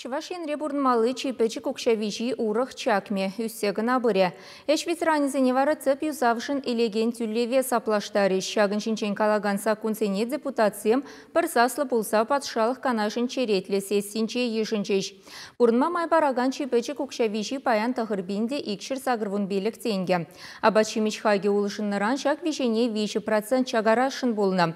Чӑваш Енре пурӑнмалли чи пӗчӗк укҫа виҫи урӑх чакмӗ ӳссе кӑна пырӗ. Ӗҫ ветеранӗсене вара тӗп юсавшӑн илекен тӳлеве саплаштарӗҫ. Ҫакӑн ҫинчен калакан саккунсене депутатсем пӗр саслӑ пулса Патшалӑх Канашӗн черетлӗ сессинче йышӑнчӗҫ. Пурӑнма май паракан чи пӗчӗк укҫа виҫи паян тӑхӑр пин те икҫӗр сакӑр вун пилӗк тенкӗ. Апат-ҫимӗҫ хакӗ улшӑннӑран ҫак виҫене виҫӗ процент чакарасшӑн пулнӑ.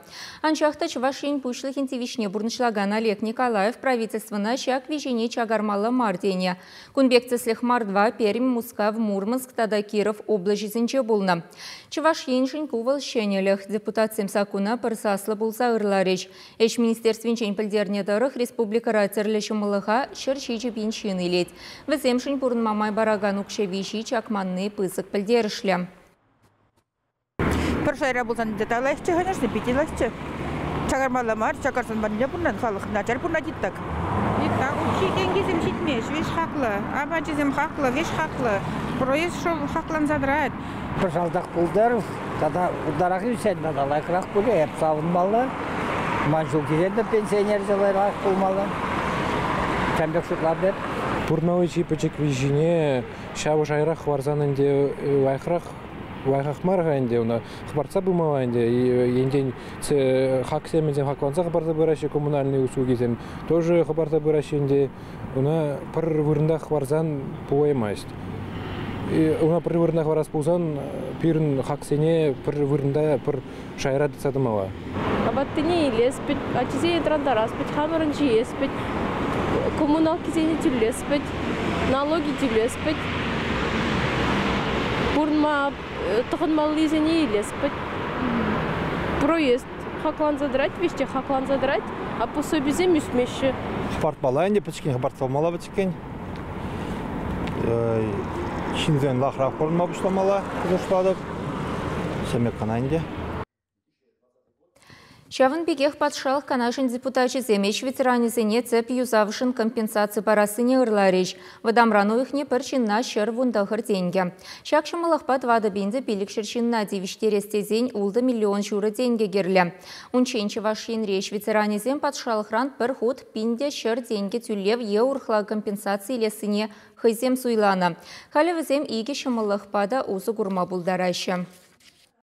Анчах та Чӑваш Ен Пуҫлӑхӗн тивӗҫне пурнӑҫлакан Олег Николаев правительствӑна ҫак виҫене чакармалла мар тенӗ. Кун пек тӗслӗх Мордва, Пермь, Мускав, Мурманск тата Киров облаҫӗсенче пулнӑ. Чӑваш Еншӗн ку вӑл ҫӗнӗлӗх. Депутатсем саккуна пӗр саслӑ пулса ырларӗҫ. Ӗҫ министерствинчен пӗлтернӗ тӑрӑх, республикӑра тӗрлӗ ҫӑмӑллӑха ҫӗр ҫичӗ пин ҫын илет. Вӗсемшӗн пурӑнма май паракан укҫа виҫи чакманни пысӑк пӗлтерӗшлӗ. Пӗр шайра пулсан те лайӑхчӗ хӗнӗшне питӗ лайӑхчӗ. Чакармалла мар, чакарсан ванне пурнан, халӑх начар пурнать итак. Итак, укҫи-тенкисем ҫитмест, виҫ хаклӑ, апачӗсем хаклӑ, виҫ хаклӑ. Проезд шӑп хакланса тӑрать. Пӗр салтак пултарӑр тата ытларах ӳсен тата лайӑхрах пулӗ, эп савӑнмалла. Ман ҫул килетӗр пенсионер те лайӑхрах пулмалла. Ҫавӑн пек шутлап эп. Пурнавӑҫи пӗчӗкри ҫине ҫавӑ шайрах хӑварсан ӗнтӗ лайӑхрах лайӑхах мар-ха ӗнтӗ ӑна хӑпартса пымалла ӗнтӗ енчен хаксемӗсем хакланса хӑпарса пыраҫҫӗ коммунальнӑй услугисем тоже хӑпарса пыраҫҫӗ ӗнтӗ ӑна пӗр вырӑнта хӑварсан пулаймасть ӑна пӗр вырӑна хӑварас пулсан пирӗн хаксене пӗр вырӑнта пӗр шайра тытса тӑмалла. Апаттине илес пӗт, ачисене тӑрантарас пӗт, хамӑрӑн ҫиес пӗт, коммуналкисене тӳлес пӗт, налоги тӳлес пӗт, пурӑнма э, тӑхӑнмаллисене илес пӗт. Проезд хакланса тӑрать, веҫ те хакланса тӑрать, а пособисем ӳсмеҫҫӗ. Хӑпартмалла ӗнтӗ, пӗчӗккӗн хӑпартса памалла пӗчӗк. иккен. Ҫынсен лахрах пурӑнма пуҫламалла шутлатӑп. Ҫемек кӑна ӗнтӗ. Ҫавӑн пекех Патшалӑх Канашӗн депутачӗсем ӗҫ ветеранӗсене тӗп юсавшӑн компенсаци парассине ырларӗҫ. Вӑтамран уйӑхне пӗр ҫынна ҫӗр вун тӑхӑр тенкӗ. Ҫак ҫӑмӑллӑхпа тӑватӑ пин те пилӗкҫӗр ҫынна тивӗҫтерес тесен ултӑ миллион ҫурӑ тенкӗ кирлӗ. Унччен Чӑваш Енри ӗҫ ветеранӗсем патшалӑхран пӗр хут пин те ҫӗр тенкӗ тӳлев е урӑхла компенсаци илессине хӑйсем суйланӑ. Халӗ вӗсем икӗ ҫӑмӑллӑхпа та усӑ курма пултараҫҫӗ.